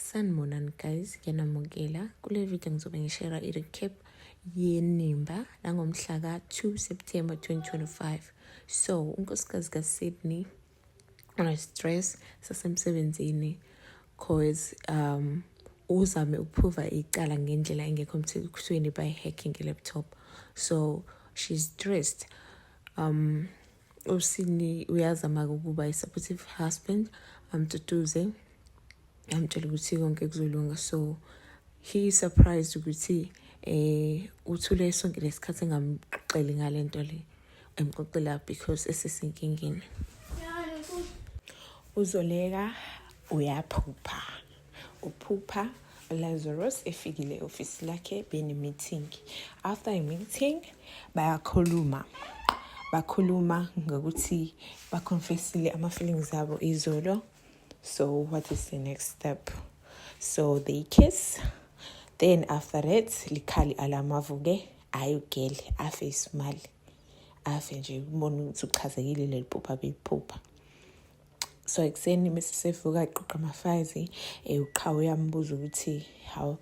Sanibonani guys, ngiyanamukela. Kule video ngizobe ngishera i-recap yenimba langomhla ka-2 September 2025. So, unkosikazi ka-Sydney unestress sasemsebenzini cause um uzame ukuphruva icala ngendlela engekho emthethweni by hacking i-laptop. So, she's stressed. Um, usini uyazama ukuba i-supportive husband amtutuze amtshela ukuthi konke kuzolunga so he is surprised ukuthi eh uthule sonke lesikhathi engamxoxeli ngalento le emxoxela because esesinkingeni uzoleka uyaphupha uphupha Lazarus efikile ofisi lakhe bene meeting after a meeting bayakhuluma bakhuluma ngokuthi baconfessile ama feelings abo izolo so what is the next step so they kiss then after that likhali alamavuke ayi ugele afe isimali afe nje ubona ukuthi uchazekile leli phupha beyiphupha so ekuseni mese sevuka aqoqa amafazi eh, uqhawe uyambuza ukuthi hawu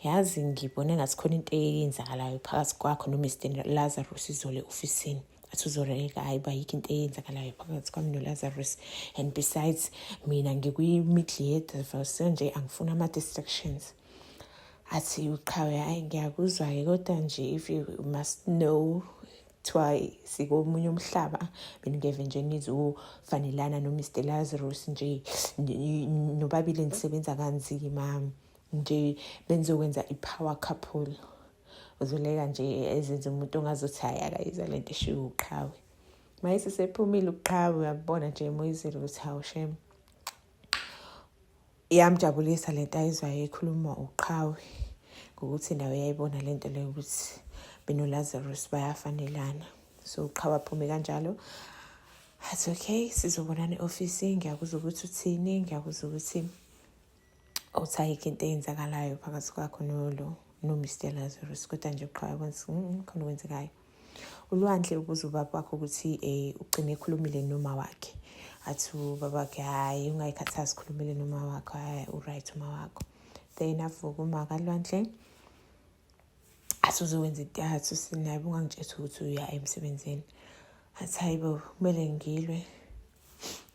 yazi ngibone ngathi khona into eyenzakalayo phakathi kwakho nomr lazarus izole ofisini athi uzoreka hayi uba yikho into eyenzakalayo phakathi kwami nolazarus and besides mina ngikwi-middle yedivelse nje angifuni ama-distractions athi uqhawe hayi ngiyakuzwa-ke kodwa nje if you must know kuthiwa sikomunye umhlaba mina ngeve nje nizofanelana nomr lazarus nje nobabili nisebenza kanzima nje benizokwenza i-power couple uzoleka nje ezenza umuntu ongazothi hayi akayizwa le nto eshiwo uqhawe mayesesephumile uqhawe uyabona nje emoyizile ukuthi hawu shame iyamjabulisa le nto ayizwayo ekhuluma uqhawe ngokuthi nawe yayibona le nto leyo ukuthi benolazarus bayafanelana so uqhawe aphume kanjalo athi okay sizobonana e-ofisi ngiyakuza ukuthi uthini ngiyakuza ukuthi uthayikho into eyenzakalayo phakathi kwakho nolo nomr lazarus kodwa nje uqhawe kwenza mm, khona okwenzekayo ulwandle ubuza ubaba wakho ukuthi um ugcine ekhulumile noma wakhe athi ubaba wakhe hhayi ungayikhathazi khulumile noma wakho hhayi uright uma wakho then avuka uma kalwandle athi uzokwenza into yathi usinaye bungangitshethi ukuthi uya emsebenzini athi hayi bo kumele ngilwe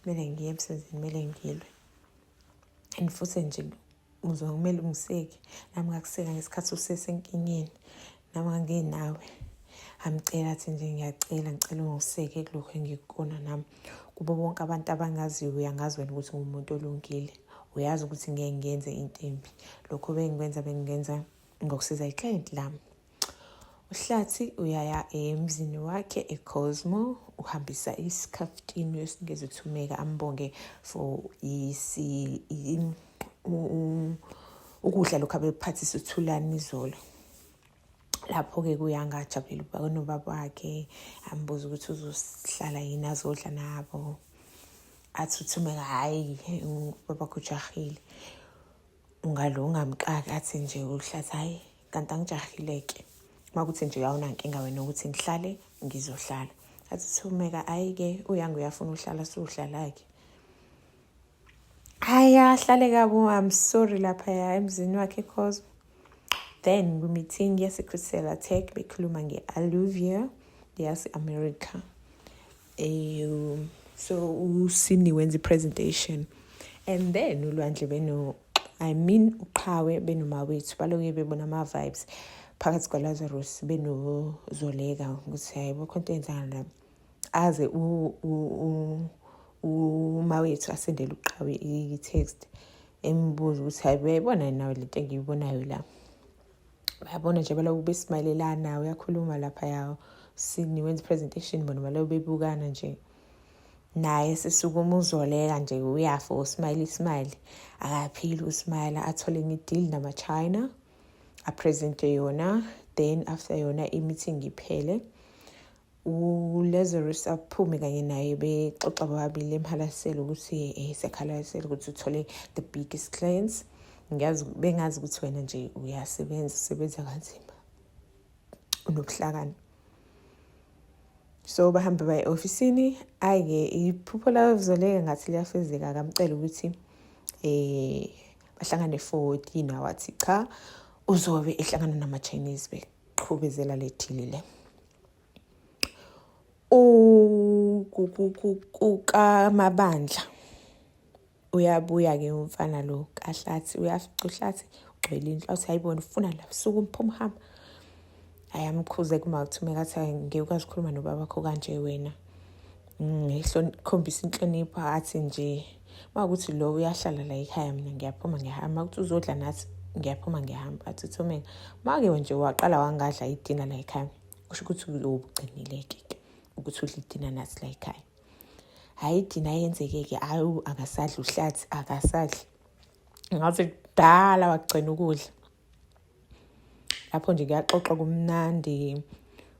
kumele ngiye emsebenzini kumele ngilwe and futhi nje uzwa kumele ungiseke nami ngakuseka ngesikhathi usesenkingeni nami ngangenawe amcela athi nje ngiyacela ngicela ungiseke kulokhu engikukona nami kubo bonke abantu abangaziyo uyangazi wena ukuthi ngumuntu olungile uyazi ukuthi ngeke ngenze into embi lokho bengikwenza bengingenza ngokusiza iklient lami uhlathi uyaya emzini wakhe ecosmo uhambisa isikhaftini wesingeze thumeka ambonge for isi ukudla lokhu abephathisa uthulani izolo lapho-ke kuyangajabulela uba kunobaba wakhe ambuza ukuthi uzohlala yini azodla nabo athi uthumeka hhayi ubaba kujahile ungalo ungamqaki athi nje uhlathi hhayi kanti angijahile ke uma kuthi nje awunankinga wena ukuthi ngihlale ngizohlala athi thumeka ayi-ke uyange uyafuna uhlala siwuhlala-ke hayi ahlale kabo i'm sorry laphaya emzini wakhe cause then kwi-meeting yase-crystal attack bekhuluma nge-aluvia yase-america um so usini wenza i-presentation and then ulwandle beno i mean uqhawe benomawethu baloke bebona ama-vibes phakathi kwalazarus benozoleka ukuthi hayi bokho into enzana la aze umawethu asendele uqhawe i-text embuza ukuthi hayi uyayibona nawe le nto engiyibonayo la uyabona nje baloku besimayelelana uyakhuluma lapha yawo sini wenza presentation bona baloku bebukana nje naye sisukuma uzoleka nje uyafa usmayile ismayile akaphili usmayile athole enye ideal namachina apresente yona then after yona i-meeting iphele uLazarus aphume kanye naye bexoxa bobabili emhalasela ukuthi eh sekhalasela ukuthi uthole the biggest clients ngiyazi bengazi ukuthi wena nje uyasebenza usebenza kanzima unobuhlakani so bahambe baye ofisini ayike iphupho lazoleka ngathi liyafezeka akamcela ukuthi eh bahlangane for dinner wathi cha uzobe ehlangana nama Chinese beqhubezela lethile le kukamabandla uyabuya ke umfana lo kahlathi uyafica uhlathi ugcwele indlu athi ayibona ufuna la suku umphuma hamba ayamkhuze kumawuthi mekathi ngeke ukwazi ukukhuluma nobaba wakho kanje wena ngikhombisa inhlonipho athi nje uma ukuthi lo uyahlala la ekhaya mina ngiyaphuma ngiyahamba ukuthi uzodla nathi ngiyaphuma ngiyahamba athi uthomeka make nje waqala wangadla idina la ekhaya kusho ukuthi ubugcinile-ke ke ukuthi udla idina nathi la ekhaya hhayi idina yenzeke-ke hhayi akasadli uhlathi akasadli ngaze kudala wagcina ukudla lapho nje kuyaxoxwa kumnandi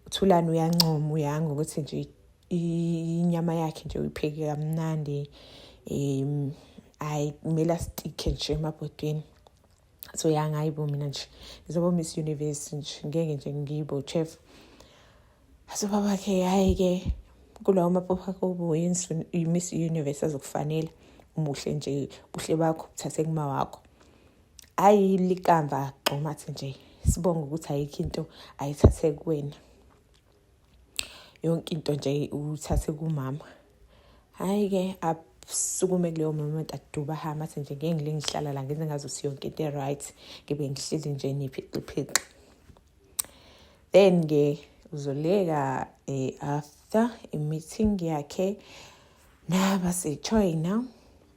uthulani uyancoma uyanga ukuthi nje inyama yakhe nje uyipheke kamnandi um ayi kumele asitike nje emabhodweni so yangayibo mina nje ngizoba miss universe nje ngeke nje ngibo chef so babakhe hhayi-ke kulawo mapopha kobuyi-miss universe azokufanela umuhle nje buhle bakho buthathe kuma wakho Ayi likamva gxomathi nje sibonga ukuthi ayikho into ayithathe kuwena yonke into nje uthathe kumama hhayi ke sukume kuleyo moment aduba hama athi nje ngeke ngile ngihlala la ngenze ngazo siyonke into e-right ngibe ngihleli nje niphixiphixi then-ke uzoleka um after i-meeting yakhe nabasejoyina